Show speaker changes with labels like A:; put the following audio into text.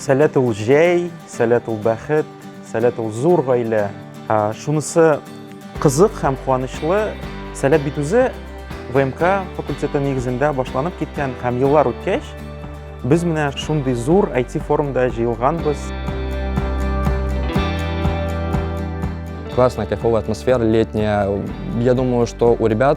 A: Сәләт ул җәй, сәләт ул бәхет, сәләт ул зур гаилә. Шунысы кызык һәм куанычлы, сәләт бит үзе ВМК факультеты нигезендә башланып киткән һәм еллар үткәч, без менә шундый зур IT-форумда җыелганбыз. Классная, кайфовая атмосфера летняя. Я думаю, что у ребят